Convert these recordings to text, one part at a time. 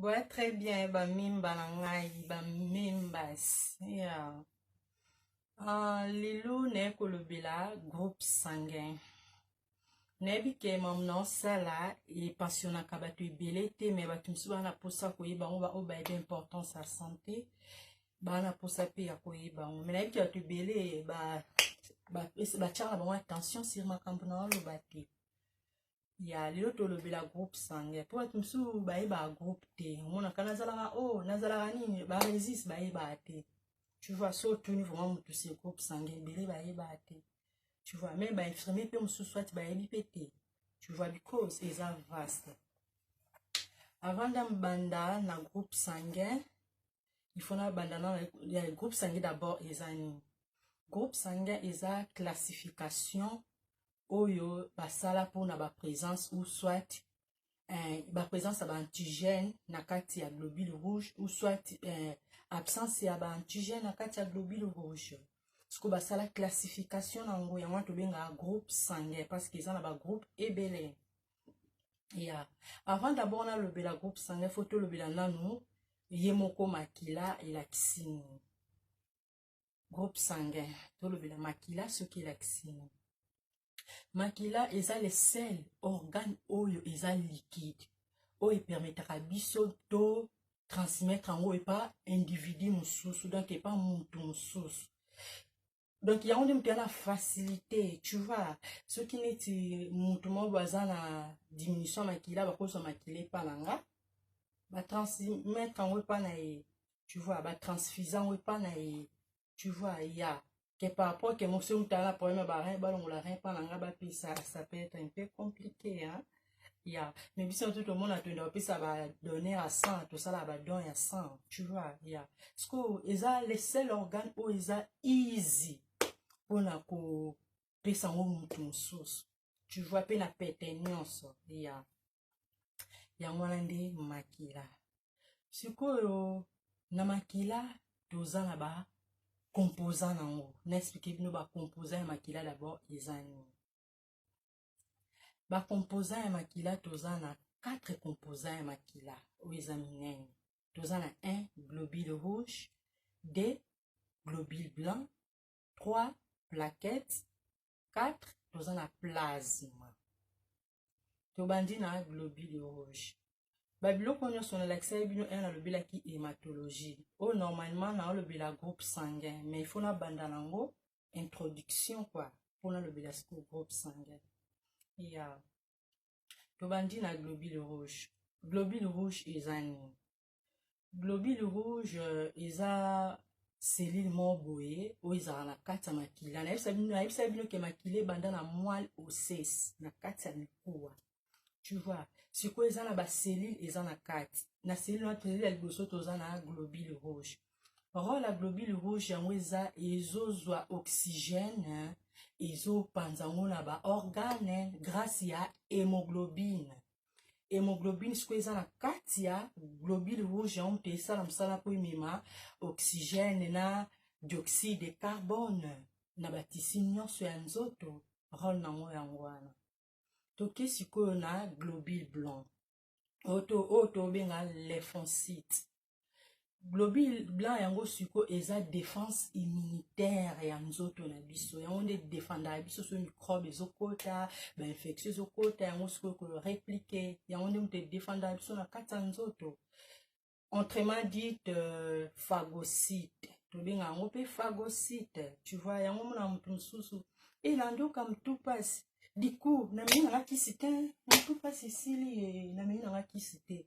boya très bien bamimba na ngai bamimbas yeah. uh, lilu naye kolobela groupe sanguin nayebi ke mamu na osala epensionaka bato ebele te me bato mosusu baa na mposa koyeba yango baoyo bayebi importance ya sante baa na mposa mpe ya koyeba yango me nayebi ke bato ebele batyaka na bango attention sur makambo na oloba te ya lelo tolobela groupe sange mpo bato mosusu bayebaka groupe te omonaka nazalaka o oh, nazalaka nini baresis bayebaka te tu vois so otuni vraimen motu se groupe sange ebele bayebaka te tu vois meme bainfirmier mpe mosusu ati bayebi mpe te tu vois because eza vaste avant ndambanda na groupe sanguin il faut nabanda na ya groupe sanguin d'abord eza nini groupe sanguin eza classification oyo basala mpona baprésence ou soit eh, baprésence ya baantigène na kati ya globule rouge ou soit eh, absence ya baantigène na kati ya globule rouge sikoyo basala classification na yango yango wana tobengaka groupe sanguin parce que eza na bagroupe ebele ya yeah. avant d'abord nalobela groupe sanguin fo tolobela nanu ye moko makila elakisi nini groupe sanguin tolobela makila soki elakisini makila eza le sel organe oyo eza liquide oyo epermetaka biso to transmettre yango epa individu mosusu donc epa motu mosusu donc yango nde moto ya na facilité tu vois soki neti motu moko aza na diminution ya makila bakozwa makila epa na nga batransmettre yango epa na ye tu vois ba transfusant oyo epa na ye tu vois ya que par rapport que mosi mutala na problème ya barin balongola rin epa na ngai bapesa ça peut être un peu compliqué hein? ya me biso na to tomona toyenda kopesa badonne ya sang tosala badon ya sang tu vois ya sikoyo eza le seul organe oyo eza easy mpona kopesa yango motu mosusu tu vois mpe na pete nyonso ya yango wana nde makila sikoyo na makila toza na ba composa na yango na explike bino ba composa ya makila d'abord eza nini ba composa ya makila toza na 4 composa ya makila oyo eza minene toza na 1 globule rouge 2 globule blanc 3 plaquette 4 toza na plasme tobandi na globule rouge babiloko nyonso nalakisaki bino ere nalobelaki hematologie oyo normalement naolobela groupe sanguin mais ifo nabanda nango introduction kua mpo nalobela sikoyo groupe sanguin ya yeah. tobandi na globule rouge globule rouge eza nini globule rouge euh, eza cellule moko boye oyo ezalaka na kati ya makila nayebisa bino nayebisa bino ke makila ebanda na moile osses na kati ya mikuwa tu vois sikoyo eza na bacellule eza na kati na cellule wana tozali ya liboso toza na globule rouge role ya globule rouge yango eza ezozwa oxygène ezopanza yango na baorgane grâce ya hémoglobine hemoglobine sikoyo eza na kati ya globule rouge yango moto esala mosala mpo emema oxygène na dioxyde de carbone na batisi nyonso ya nzoto role nango yango wana toke sikoyo na globule blanc oyo tobenga lymphocyte globule blanc yango siko eza défense immunitaire ya nzoto na biso yango nde defendaka biso so microbe ezokota bainfection ezokota yango siko ekolo replike yango nde moto edefendaka biso na kati ya nzoto entrement dite euh, phagocyte tobenga yango mpe phagocyte tu vois yango mona moto mosusu elandoka motu mpasi diku namei nanga kisi te motu mpasi esili ye namei nanga kisi te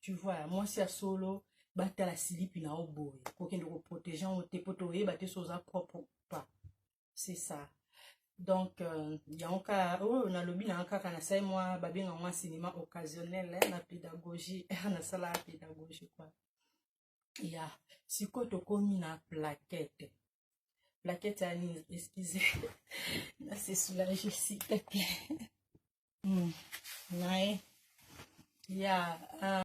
tu vois mwasi ya solo batala silipi na yo boye kokende koprotege yango te mpo toyeba te so oza propre pas c'est ça donc euh, yango kaka oyo oh, nalobi nanga kaka nasali mwa babenga mwa cinema occasionnel eh, na pédagogie nasalaka pédagogie kua ya yeah. sikoyo tokomi na plaquette plaquette ya nini excuse na se soulage s'il te plaît mm. naye ya yeah, uh...